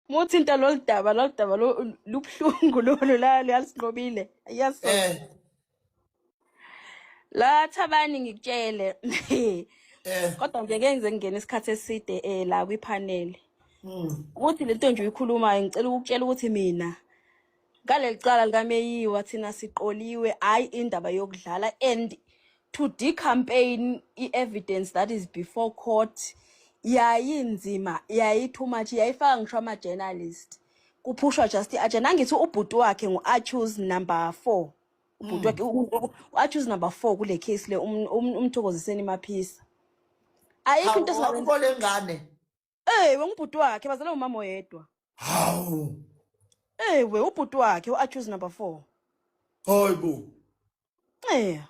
muthinta lolu daba lolu daba lubuhlungu lolu lalisinqobile yes eh. la thabani ngikutshele eh. kodwa nje ke ngize ngingena isikhathi eside eh la kwiphaneli hmm. ukuthi lento nje uyikhulumayo ngicela ukutshela ukuthi mina ngaleli cala likameyiwa thina siqoliwe hhayi indaba yokudlala and to decampaign i-evidence that is before court yayinzima yayi-too much yayifaka ngisho ama-journalist kuphushwa just i-agenda angithi ubhuti wakhe ngu-achus number four ubhuti wakhe u-achus number four kule case le um- um- umthokoziseni maphisa ayikho into esingakwenza awukho lengane Ey wengubhuti wakhe bazalwa umama oyedwa. Hawu. Ey we ubhuti wakhe uAccuse number 4. Hayibo. Eh.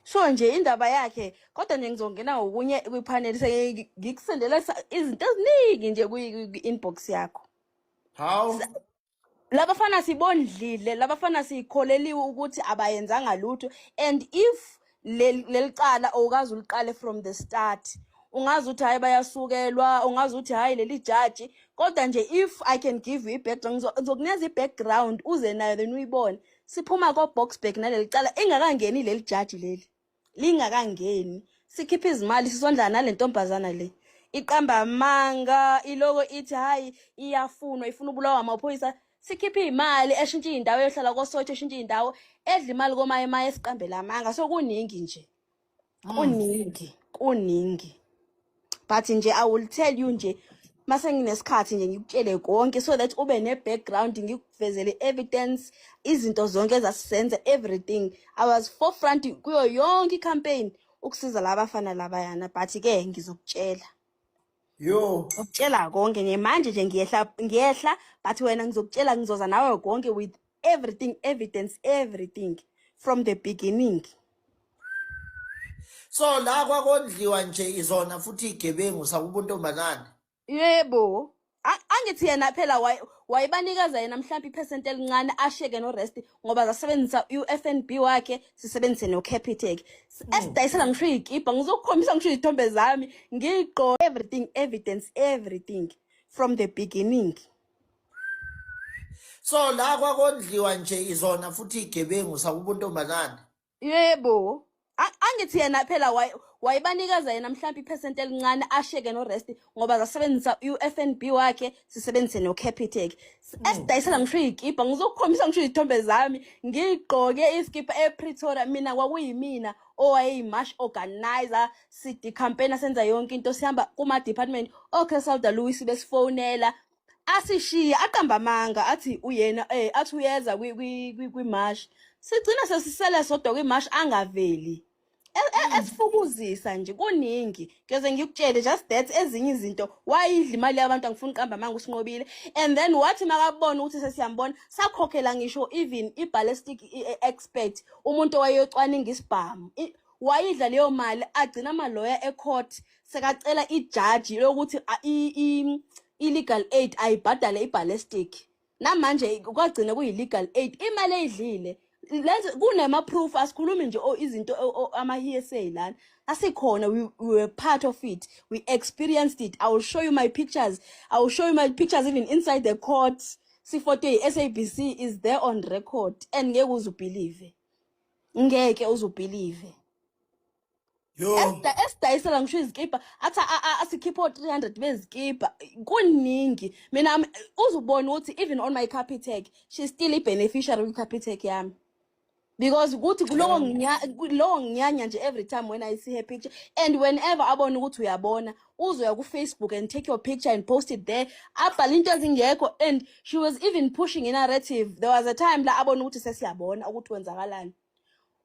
So nje indaba yakhe kodwa nje ngizongena ngokunye kwipanel sengikusendela izinto eziningi nje kwi-inbox yakho. Hawu. labafana sibondlile labafana sikholeliwe ukuthi abayenzanga lutho and if lelicala awukazi uliqale from the start ungazi ukuthi hayi bayasukelwa ungazi ukuthi hayi leli jaji kodwa nje if i can give you i-background ngizokunikeza i-background uze nayo then uyibone siphuma ko-boxburg naleli cala ingakangeni leli jaji leli lingakangeni sikhipha izimali sisondlana nale ntombazana le iqamba amanga iloko ithi hhayi iyafunwa ifuna ubulawa amaphoyisa sikhiphe iy'mali eshintshe iy'ndawo eyohlala kosotsho eshintshe iy'ndawo edla imali komaye maye esiqambela amanga so kuningi nje kuningi kuningi but nje i will tell you nje mase nginesikhathi nje ngikutshele konke so that ube ne-background ngikuvezele evidence izinto zonke ezasisenza everything i was forefront kuyo yonke icampaign ukusiza laba fana labayana but-ke ngizokutshela yo ukutshela konke nje manje nje ngiyehla ngiyehla but wena ngizokutshela ngizoza nawe konke with everything evidence everything from the beginning so la kwakondliwa nje izona futhi igebengu sakuba untombazane yebo A- angithi yena phela waye- wayebanikeza yena mhlawumbe iphesenti elincane asheke norest ngoba zasebenzisa u-fnb wakhe sisebenzise nocapitec esidayisela ngisho iy'kibha ngizokukhombisa ngisho izithombe zami ngiyigqoke everything evidence everything from the beginning so la kwakondliwa nje izona futhi igebengu sakuba untombazane yebo A- angithi yena phela waye- wayebanikeza yena mhlawumbe iphesenti elincane asheke norest ngoba zasebenzisa u-fnb wakhe sisebenzise nocapitec esidayisela ngisho iy'kibha ngizokukhombisa ngisho izithombe zami ngigqoke isikibha epretoria mina kwakuyimina owayeyimash organizer sidikhampena senza yonke into sihamba kuma-department okay salda louis besifonela asishiye aqamba amanga athi uyena eh athi uyeza kwi-marsh sigcina sesisele sodwa kwi-marsh angaveli e, e, mm. esifukuzisa nje kuningi ngeze ngikutshele just that ezinye izinto wayidla imali yabantu angifuni uqamba amanga usinqobile and then wathi makabona ukuthi sesiyambona sakhokhela ngisho even i-ballistic e, expert umuntu owayeyocwaninga isibhamu wayidla leyo mali agcina amaloya ecourt sekacela ijaji lokuthi i-legal aid ayibhadale iballistic namanje kwagcina kuyi-legal aid imali eyidlile kunema-proof asikhulumi nje oh, izinto oh, oh, ama-hsa lana asikhona we, we were part of it we experienced it i will show you my pictures i will show you my pictures even inside the court sifoto yi-sabc is there on record and ngeke uze ubhilive ngeke uzubhilive esidayisela ngisho izikibha athi asikhiphe o-300 bezikibha kuningi mina uzubona ukuthi even on my capitec she still i-beneficiary kwi-capitec yami because ukuthi kulowo nginya lowo nginyanya nje every time when i see her picture and whenever abona ukuthi uyabona uzoya kufacebook and take your picture and post it there abhale into ezingekho and she was even pushing inarrative there was a time la abona ukuthi sesiyabona ukuthi kwenzakalani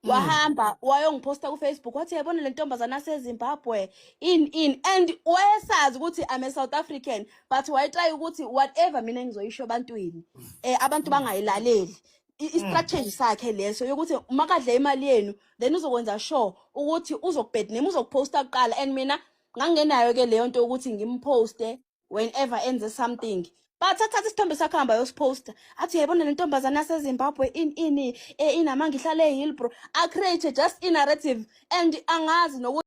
mm. wahamba wayongiphosta kufacebook wathi yayibona le ntombazana asezimbabwe in in and wayesazi ukuthi i'm a south african but wayetry ukuthi whatever mina engizoyisho ebantwini um abantu mm. bangayilaleli istrategy sakhe leso yokuthi uma kadla imali yenu then uzokwenza sure ukuthi uzokubed name uzokuposta kuqala and mina ngangenayo ke leyo nto ukuthi ngimposte whenever enze something bathathatha isithombe sakho hamba yosiposta athi yayibona le ntombazane yasezimbabwe in ini e, inamanga ihlale ehillbro acreate just inarrative and angazi nokuthi